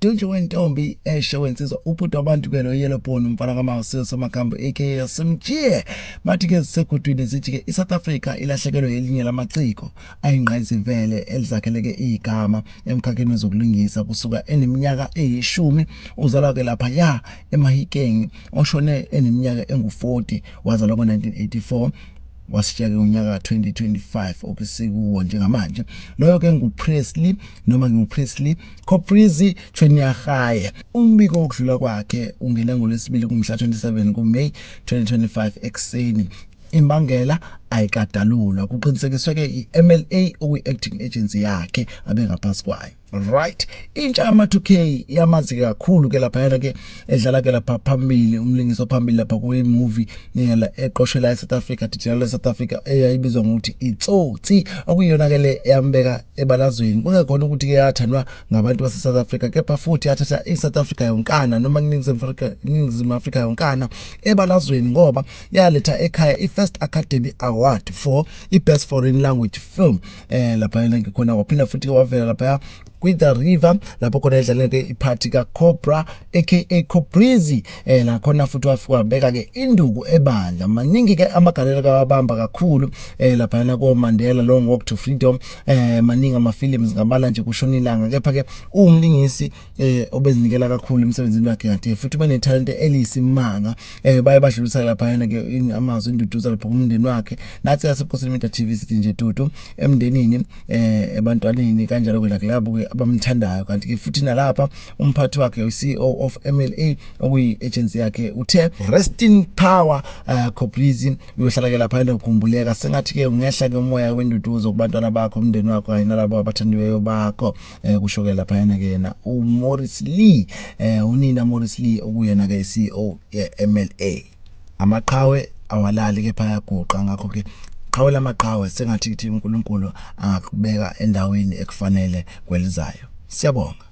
Dunje wentombi eshe eh, wensizwa ubhuti wabantu ke lo yellow bone umfana kamawusiwe somagambo aka simjiye bathi ke zisegudwini zithi ke iSouth Africa ilahlekelwe elinye lamaciko ayingqayizivele elizakheleke igama emkhakheni wezokulingisa kusuka eneminyaka eyishumi uzalwa ke lapha ya eMahikeng oshone eneminyaka engu-40 wazalwa ngo-1984 wasishiya ke ngonyaka ka-2025 okusikuwo njengamanje loyo ke nguPresley noma nginguPresley Coprizi Chwenyahaye umbiko wokudlula kwakhe ungene ngolwesibili kumhla 27 kuMay 2025 ekuseni imbangela ayikadalulwa kuqinisekiswe ke iMLA okuyi-acting agency yakhe abengaphansi kwayo. right intsha yama 2k yamazi kakhulu ke lapha yana ke edlala ke lapha phambili umlingiso phambili lapha kwe movie neyala eqoshela e South Africa dijela e South Africa eyayibizwa ngokuthi itsotsi okuyona ke le yambeka ebalazweni kungekhona ukuthi ke yathandwa ngabantu base South Africa kepha futhi yathatha i South Africa yonkana noma kuningizimu Africa ningizimu Africa yonkana ebalazweni ngoba yaletha ekhaya i First Academy Award for i Best Foreign Language Film eh lapha yena ngikhona waphinda futhi ke wavela lapha kwi the river lapho khona edlale ke iphathi ka cobra aka cobrizi eh la khona futhi wafika wabeka ke induku ebandla maningi ke amagalelo kawabamba kakhulu eh lapha yena ko Mandela long walk to freedom eh maningi ama films ngabala nje kushona ilanga kepha ke umlingisi eh obezinikela kakhulu emsebenzini wakhe kade futhi banethalente eliyisimanga eh baye badlulisa laphayana ke amazwi induduza lapha kumndeni wakhe nathi yasephosini media TV sithi nje dudu emndenini eh ebantwaneni kanjalo ke nakulabo ke abamthandayo kanti ke futhi nalapha umphathi wakhe uCEO of MLA okuyi agency yakhe uthe resting power uh, eh, Cobrizi uyohlala ke lapha enokukhumbuleka sengathi ke ungehla ke umoya wenduduzo kubantwana bakho umndeni wakho kanye nalabo abathandiweyo bakho eh kusho ke lapha yena ke yena uMorris Lee eh unina Morris Lee okuyena ke iCEO yeMLA amaqhawe awalali ke phayaguqa ngakho ke qhawe lamaqhawe sengathi kuthi uNkulunkulu angakubeka endaweni ekufanele kwelizayo siyabonga